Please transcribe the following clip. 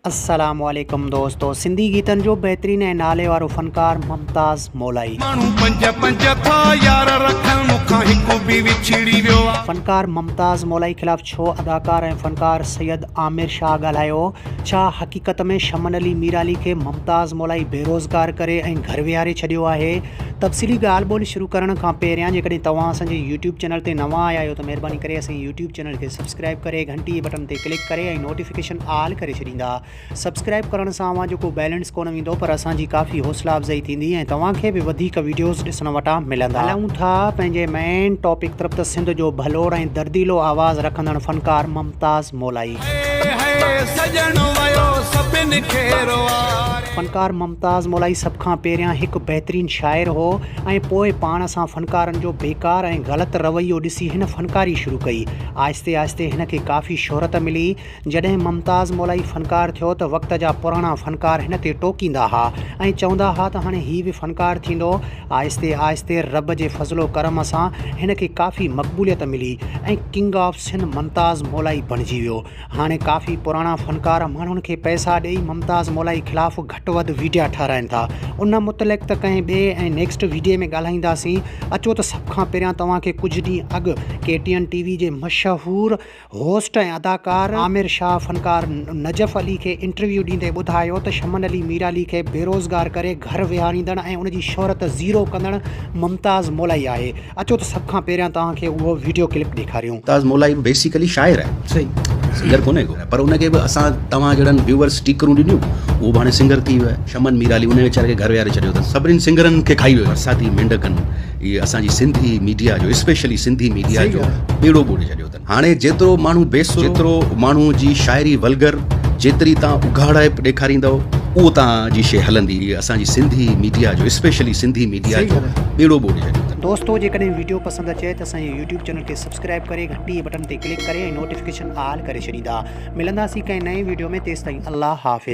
السلام عليڪم دوستو سنڌي گيتن جو بهترين ۽ نالي وارو فنڪار ممتاز مولائي. ماڻهو پنج پنج ٿا يار رکن مون کان هڪ به وڇڙي ويو آ. فنڪار ممتاز مولائي خلاف ڇو اداڪار ۽ فنڪار سيد عامر شاهه ڳالهايو هو؟ ڇا حقيقت ۾ شمن علي ميرالي کي ممتاز مولائي بيروزگار ڪري ۽ گهر ويهاري ڇڏيو آهي؟ تفصيلي ڳالهه ٻولهه شروع ڪرڻ کان پهريان جيڪڏهن توهان اسان جي يوٽيوب چينل تي نوان آيا آهيو ته مهرباني ڪري اسان جي يوٽيوب چينل کي سبسڪرائيب ڪري گهنٽي بٽن تي ڪلڪ ڪري ۽ نوٽيفڪيشن آل ڪري ڇڏيندا سبسڪرائيب ڪرڻ سان اوهان جو ڪو بيلنس ڪونه ويندو پر اسان جي ڪافي حوصلا افزائي ٿيندي ۽ توهان کي به وڌيڪ وڊيوز ڏسڻ وٽان ملندا. هلون ٿا پنهنجي مين ٽاپڪ طرف ته سنڌ جو ڀلوڙ ۽ درديلو آواز رکندڙ فنڪار ممتاز مولائي. فنڪار ممتاز مولائي سڀ کان پهريان هڪ بهترين شاعر هو ۽ پوء پاڻ سان فنڪارن جو بيڪار ۽ غلط رويو ڏسي هن فنڪاري شروع ڪئي. آهستي آهستي هن کي ڪافي شهرت ملي. جڏهن ممتاز مولائي فنڪار ٿيو ته وقت جا پراڻا فنڪار هن تي ٽوڪيندا ها ۽ چوندا ها ته هاڻي هي به فنڪار ٿيندو آهستي آهستي رب جي فضل و ڪرم سان هن کي ڪافي مقبوليت ملي ۽ king of sun Mumtaz Molai بڻجي ويو. هاڻي ڪافي پراڻا فنڪار ماڻهن کي پئسا ڏئي ممتاز مولائي خلاف گهٽ وڌ ويڊيا ٺهرائين ٿا. ان متعلق ته ڪنهن ٻئي ۽ نيڪسٽ ويڊيي ۾ ڳالهائينداسين اچو ته سڀ کان پهريان توهان کي ڪجهه ڏينهن اڳ K T N T V جي مشهور هوسٽ ۽ اداڪار عامر شاهه فنڪار نجف علي کي انٽرويو ڏيندي ٻڌايو ته شمن علي ميرعلي کي بيروزگار ڪري گهر ويهاريندڙ ۽ ان جي شهرت زيرو ڪندڙ ممتاز مولائي آهي اچو ته سڀ کان پهريان توهان کي اهو وڊيو ڪلپ ڏيکاريون. ممتاز مولائي به بيسيڪلي شاعر آهي سنگر ڪونهي ڪو پر ان کي به اسان توهان جهڙن ويوئرز اسٽيڪرون ڏنيون اهو به هاڻي سنگر ٿي ويو آهي شمن ميرعلي ان ويچاري کي گهر ويهاري ڇڏيو اٿس سڀني سنگرن کي کائي ويو برساتي مينڍڪن هي اسان جي سنڌي ميڊيا جو اسپيشلي سنڌي ميڊيا جو ٻيڙو ٻوڙي ڇڏيو اٿن. هاڻي جيترو ماڻهو بي سر جيترو ماڻهو جي شاعري ولگر جيتري تان اگهاڙائپ ڏيکاريندو اهو تان جي شي هلندي اسان جي سنڌي ميڊيا جو اسپيشلي سنڌي ميڊيا جو ٻيڙو ٻوڙي هليو تن دوستو جيڪڏهن ويڊيو پسند اچي ته اسان جي يوٽيوب چينل کي سبسڪرائب ڪري گهنٽي بٽن تي ڪلڪ ڪري ۽ نوٽيفڪيشن آل ڪري ڇڏيندا ملنداسين ڪنهن نئين ويڊيو ۾ تيستائين الله حافظ.